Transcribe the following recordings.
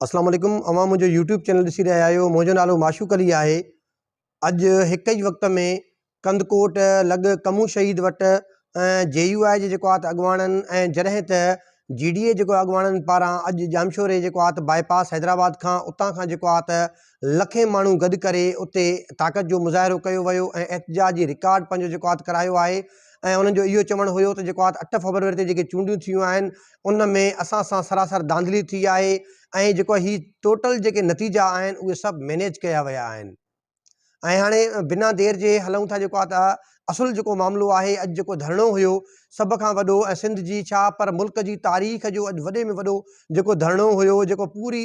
اسلام عليڪم اوهان منهنجو يوٽيوب چينل ڏسي رهيا آهيو منهنجو نالو معشوق علي آهي اڄ هڪ ئي وقت ۾ ڪنڌڪوٽ لڳ ڪمون شهيد وٽ جي يو آء جي جيڪو آهي اڳواڻن ۽ جڏهن ته جي ڊي اي جيڪو اڳواڻن پاران اڄ ڄامشوري جيڪو آهي باء پاس حيدرآباد کان اتان کان جيڪو آهي لکين ماڻهو گڏ ڪري اتي طاقت جو مظاهرو ڪيو ويو ۽ احتجاج جي رڪارڊ پنهنجو جيڪو آت ڪرايو آهي ۽ انهن جو اهو چوڻ هيو ته جيڪو آت اٺ فبروري تي جيڪي چونڊيون ٿيون آهن ان ۾ اسان سان سراسر ڌانڌلي ٿي آهي ۽ جيڪو هي ٽوٽل جيڪي نتيجا آهن اهي سڀ مينيج ڪيا ويا آهن ۽ هاڻي بنا دير جي هلون ٿا جيڪو آت اصل جيڪو معاملو آهي اڄ جيڪو ڌرڻو هيو سڀ کان وڏو ۽ سنڌ جي ڇا پر ملڪ جي تاريخ جو اڄ وڏي ۾ وڏو جيڪو ڌرڻو هيو جيڪو پوري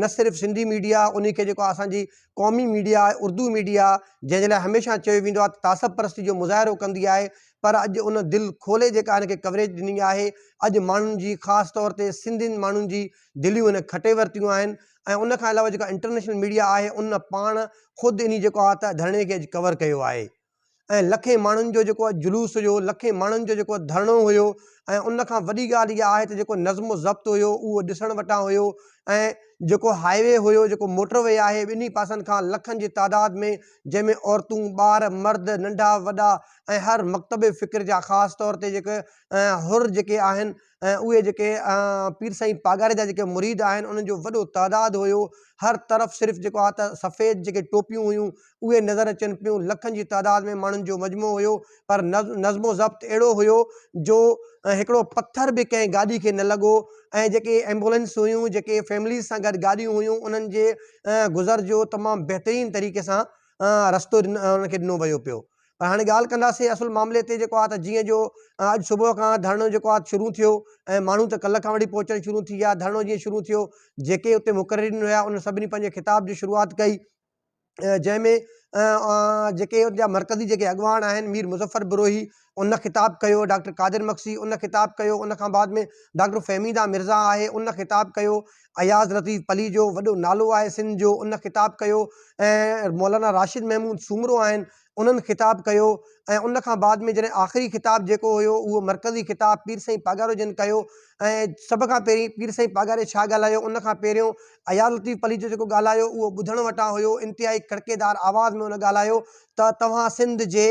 نه صرف سنڌي ميڊيا ان کي جيڪو اسانجي قومي ميڊيا آهي اردو ميڊيا جنهن جي لاء هميشه چيو ويندو آهي ته تعصب پرستي جو مظاهرو ڪندي آهي پر اڄ ان دل کولي جيڪا ان کي ڪوريج ڏني آهي اڄ ماڻهن جي خاص طور تي سنڌين ماڻهن جي دليون ان کٽي ورتيون آهن ۽ ان کان علاوه جيڪا انٽرنيشنل ميڊيا آهي ان پاڻ خود انهي جيڪو آهي ته ڌرڻي کي اڄ ڪور ڪيو آهي ۽ لکين ماڻهن جو جيڪو جلوس هيو، لکين ماڻهن جو جيڪو ڌرڻو هيو ۽ ان کان وڏي ڳالهه اها آهي ته جيڪو نظم و ضبط هيو اهو ڏسڻ وٽان هيو ۽ جيڪو هاء وي هيو، جيڪو موٽر وي آهي ٻنهي پاسن کان لکن جي تعداد ۾ جنهن ۾ عورتون، ٻار، مرد، ننڍا وڏا ۽ هر مڪتب فڪر جا خاص طور تي جيڪي حر جيڪي آهن، ۽ اهي جيڪي پير سائين پاڳاري جا جيڪي مريد آهن انهن جو وڏو تعداد هيو، هر طرف صرف جيڪو آ ته سفيد جيڪي ٽوپيون هيون اهي نظر اچن پيون، لکن جي تعداد ۾ ماڻهن جو مجمعو هيو پر نظم و ضبط اهڙو هيو جو هڪڙو پٿر به ڪنهن گاڏي کي نه لڳو ۽ جيڪي ايمبولينس هيون جيڪي فيمليز سان گڏ گاڏيون هيون انهن جي گذر جو تمام بهترين طريقي سان رستو انهن کي ڏنو ويو پيو. پر هاڻي ڳالهه ڪنداسين اصل معاملي تي جيڪو آهي ته جيئن جو اڄ صبح کان ڌرڻو جيڪو آهي شروع ٿيو ۽ ماڻهو ته ڪلهه کان وٺي پهچڻ شروع ٿي ويا ڌرڻو جيئن شروع ٿيو جيڪي اتي مقررين هيا انهن سڀني پنهنجي خطاب جي شروعات ڪئي جنهن ۾ جيڪي ان جا مرڪزي جيڪي اڳواڻ آهن مير مظفر بروهي ان خطاب ڪيو ڊاڪٽر قادر مڪسي ان خطاب ڪيو ان کان بعد ۾ ڊاڪٽر فهميدا مرزا آهي ان خطاب ڪيو اياز لطيف پليجو وڏو نالو آهي سنڌ جو ان خطاب ڪيو ۽ مولانا راشد محمود سومرو آهن انهن خطاب ڪيو ۽ ان کان بعد ۾ جڏهن آخري خطاب جيڪو هيو اهو مرڪزي خطاب پير سائين پاڳارو جن ڪيو ۽ سڀ کان پهرين پير سائين پاڳاري ڇا ڳالهايو ان کان پهريون اياز لطيف پليجو جيڪو ڳالهايو اهو ٻڌڻ وٽان هيو انتهائي کڙڪيدار آواز ۾ ان ڳالهايو ته توهان سنڌ جي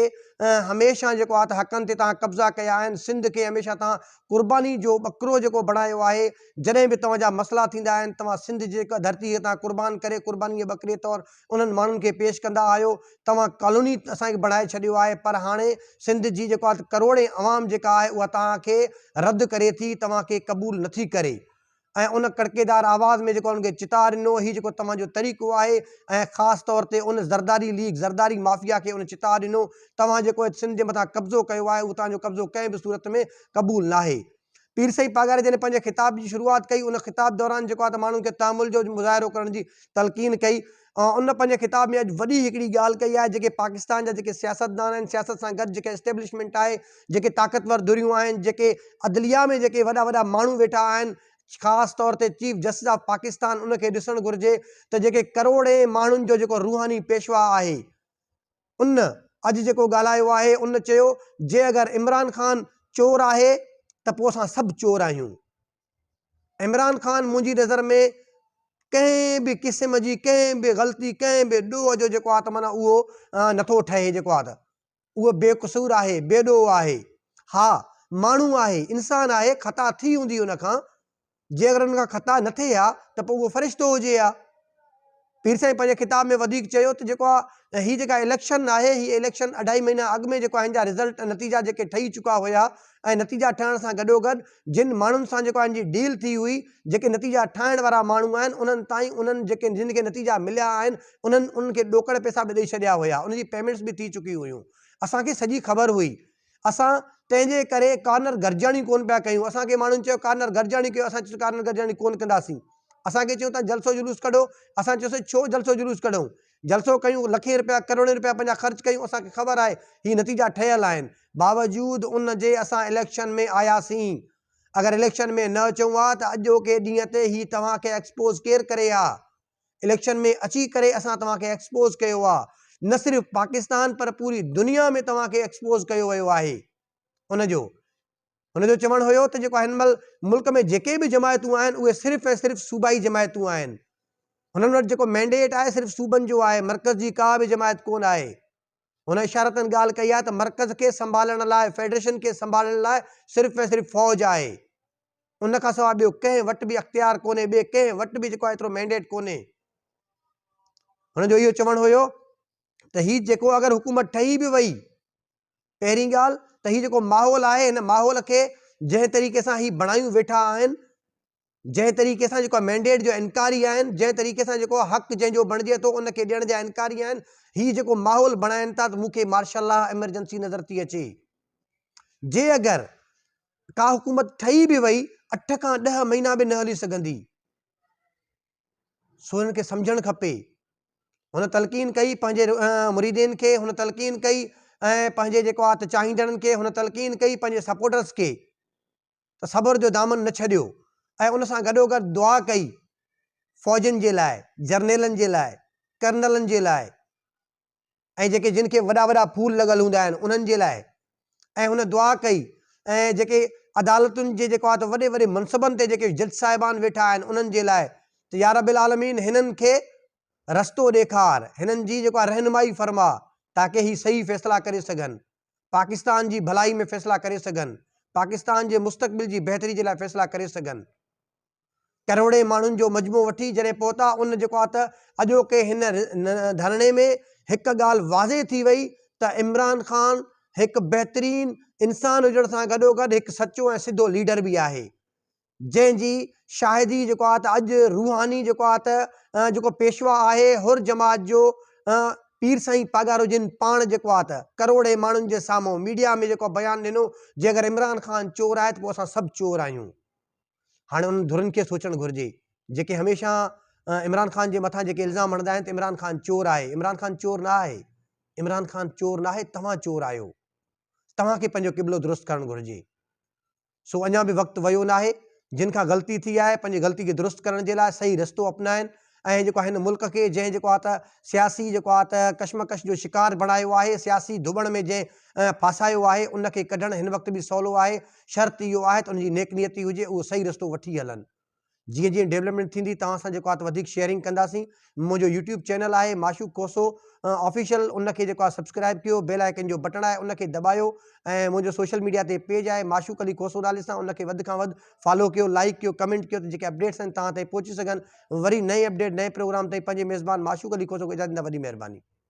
هميشه جيڪو آهي ته حقن تي توهان قبضا ڪيا آهن سنڌ کي هميشه توهان قرباني جو ٻڪرو جيڪو بڻايو آهي، جڏهن به توهان جا مسئلا ٿيندا آهن، توهان سنڌ جي ڌرتي هتان قربان ڪري قرباني جي ٻڪري طور انهن ماڻهن کي پيش ڪندا آهيو، توهان ڪالوني اسان کي بڻائي ڇڏيو آهي پر هاڻي سنڌ جي جيڪا ڪروڙين عوام جيڪا آهي اها توهان کي رد ڪري ٿي، توهان کي قبول نٿي ڪري. ۽ ان ڪڙڪيدار آواز ۾ جيڪو انهن کي چتاء ڏنو، هي جيڪو توهان جو طريقو آهي ۽ خاص طور تي ان زرداري ليگ، زرداري مافيا کي ان چتاء ڏنو، توهان جيڪو هت سنڌ جي مٿان قبضو ڪيو آهي، اهو توهان جو قبضو ڪنهن به صورت ۾ قبول ناهي. پير سائين پاڳاري جڏهن پنهنجي خطاب جي شروعات ڪئي، ان خطاب دوران جيڪو آهي ته ماڻهن کي تحمل جو مظاهرو ڪرڻ جي تلقين ڪئي، ان پنهنجي خطاب ۾ اڄ وڏي هڪڙي ڳالهه ڪئي آهي جيڪي پاڪستان جا جيڪي سياستدان آهن سياست سان گڏ جيڪا اسٽيبلشمينٽ آهي جيڪي طاقتور ڌريون آهن جيڪي عدليا ۾ جيڪي وڏا وڏا ماڻهو ويٺا آهن خاص طور تي چيف جسٽس آف پاڪستان ان کي ڏسڻ گهرجي ته جيڪي ڪروڙين ماڻهن جو جيڪو روحاني پيشوا آهي ان اڄ جيڪو ڳالهايو آهي ان چيو جي اگر عمران خان چور آهي ته پوء اسان سڀ چور آهيون عمران خان منهنجي نظر ۾ ڪنهن به قسم جي ڪنهن به غلطي ڪنهن به ڏوهه جو جيڪو آهي ته معنيٰ اهو نٿو ٺهي جيڪو آهي ته اهو بي قصور آهي بي ڏوهه آهي ها ماڻهو آهي انسان آهي خطا ٿي هوندي ان کان جي اگر ان کان خطا نه ٿئي ها ته پوء اهو فرشتو هجي ها. پير سائين پنهنجي خطاب ۾ وڌيڪ چيو ته جيڪو آ هي جيڪا اليڪشن آهي هي اليڪشن اڍائي مهينا اڳ ۾ جيڪو آ هن جا رزلٽ ۽ نتيجا جيڪي ٺهي چڪا هيا ۽ نتيجا ٺهڻ سان گڏوگڏ جن ماڻهن سان جيڪو آ هن جي ڊيل ٿي هئي جيڪي نتيجا ٺاهڻ وارا ماڻهو آهن انهن تائين انهن جيڪي جن کي نتيجا مليا آهن انهن انهن کي ڏوڪڙ پيسا به ڏئي ڇڏيا هيا ان جي پيمينٽس به ٿي چڪي هيون اسان کي سڄي خبر هئي اسان تنهنجي ڪري ڪارنر گڏجاڻيون ڪونه پيا ڪيون، اسان کي ماڻهن چيو ڪارنر گڏجاڻيون ڪيو، اسان چيو سين ڪارنر گڏجاڻيون ڪونه ڪنداسين، اسان کي چيو تان جلسو جلوس ڪڍو، اسان چيو سين ڇو جلسو جلوس ڪڍون، جلسو ڪيون، لکين رپيا ڪروڙين رپيا پنهنجا خرچ ڪيون، اسان کي خبر آهي هي نتيجا ٺهيل آهن، باوجود ان جي اسان اليڪشن ۾ آياسين، اگر اليڪشن ۾ نه اچون ها ته اڄوڪي ڏينهن تي هي توهان کي ايڪسپوز ڪير ڪري ها، اليڪشن ۾ اچي ڪري اسان توهان کي ايڪسپوز ڪيو آ نه صرف پاڪستان پر پوري دنيا ۾ توهان کي ايڪسپوز ڪيو ويو آهي ان جو هن جو چوڻ هيو ته جيڪو هن مهل ملڪ ۾ جيڪي به جماعتون آهن اهي صرف ۽ صرف صوبائي جماعتون آهن هنن وٽ جيڪو مينڊيٽ آهي صرف صوبن جو آهي مرڪز جي ڪا به جماعت ڪون آهي هن اشارتن ڳالهه ڪئي آهي ته مرڪز کي سنڀالڻ لاء، فيڊريشن کي سنڀالڻ لاء صرف ۽ صرف فوج آهي. ان کان سواء ٻيو ڪنهن وٽ به اختيار ڪونهي، ٻئي ڪنهن وٽ به جيڪو آهي ايترو مينڊيٽ ڪونهي. هن جو اهو چوڻ هيو ته هي جيڪو اگر حڪومت ٺهي به وئي، پهرين ڳالهه ته هي جيڪو ماحول آهي، هن ماحول کي جنهن طريقي سان هي بڻايون ويٺا آهن، جنهن طريقي سان جيڪو مينڊيٽ جو انڪاري آهن، جنهن طريقي سان جيڪو حق جنهن جو بڻجي ٿو ان کي ڏيڻ جا انڪاري آهن، هي جيڪو ماحول بڻائن ٿا ته مون کي مارشل لا ايمرجنسي نظر ٿي اچي. جي اگر ڪا حڪومت ٺهي به وئي اٺ کان ڏهه مهينا به نه هلي سگهندي. سو هنن کي سمجهڻ کپي. هن تلقين ڪئي پنهنجي مريدين کي، هن تلقين ڪئي ۽ پنهنجي جيڪو آ ته چاهيندڙن کي، هن تلقين ڪئي پنهنجي سپورٽرز کي ته صبر جو دامن نه ڇڏيو ۽ ان سان گڏوگڏ دعا ڪئي، فوجين جي لاء، جرنيلن جي لاء، ڪرنلن جي لاء ۽ جيڪي جن کي وڏا وڏا ڦول لڳل هوندا آهن انهن جي لاء ۽ هن دعا ڪئي ۽ جيڪي عدالتن جي جيڪو آهي ته وڏي وڏي منصبن تي جيڪي جج صاحبان ويٺا آهن انهن جي لاء ته يا رب العالمين هنن کي رستو ڏيکار، هنن جي جيڪو آهي رهنمائي فرما تاڪه هي صحيح فيصلا ڪري سگهن. پاڪستان جي ڀلائي ۾ فيصلا ڪري سگهن، پاڪستان جي مستقبل جي بهتري جي لاء فيصلا ڪري سگهن. ڪروڙين ماڻهن جو مجموعو وٺي جڏهن پهتا ان جيڪو آ ته اڄوڪي هن ڌرڻي ۾ هڪ ڳالهه واضح ٿي وئي ته عمران خان هڪ بهترين انسان هجڻ سان گڏوگڏ هڪ سچو ۽ سڌو ليڊر به آهي جنهن جي شاهدي جيڪو آهي ته اڄ روحاني جيڪو آهي ته جيڪو پيشوا آهي حر جماعت جو پير سائين پاڳارو جن پاڻ جيڪو آهي ته ڪروڙين ماڻهن جي سامهون ميڊيا ۾ جيڪو بيان ڏنو جي اگر عمران خان چور آهي ته پوء اسان سڀ چور آهيون هاڻي انهن ڌرين کي سوچڻ گهرجي جيڪي هميشه عمران خان جي مٿان جيڪي الزام هڻندا آهن ته عمران خان چور آهي عمران خان چور نه آهي عمران خان چور نه آهي توهان چور آهيو توهان کي پنهنجو قبلو درست ڪرڻ گهرجي سو اڃا به وقت ويو ناهي، جن کان غلطي ٿي آهي پنهنجي غلطي کي درست ڪرڻ جي لاء صحيح رستو اپنائين ۽ جيڪو آ هن ملڪ کي جنهن جيڪو آ ته سياسي جيڪو آ ته ڪشمڪش جو شڪار بڻايو آهي سياسي ڌٻڻ ۾ جنهن ڦاسايو آهي ان کي ڪڍڻ هن وقت به سولو آهي شرط اهو آهي ته ان جي نيڪ نيتي هجي اهو صحيح رستو وٺي هلن. جيئن جيئن ڊيولپمينٽ ٿيندي توهان سان جيڪو آهي وڌيڪ شيئرنگ ڪنداسين منهنجو يوٽيوب چينل آهي معشوق کوسو آفيشل ان کي جيڪو آهي سبسڪرائب ڪيو بيل آئڪن جو بٽڻ آهي ان کي دٻايو ۽ منهنجو سوشل ميڊيا تي پيج آهي معشوق علي کوسو نالي سان ان کي وڌ کان وڌ فالو ڪيو لائڪ ڪيو ڪمينٽ ڪيو ته جيڪي اپڊيٽس آهن توهان تائين پهچي سگهن وري نئين اپڊيٽ نئين پروگرام تائين پنهنجي ميزبان معشوق علي کوسو کي اجازت ڏيندا وڏي مهرباني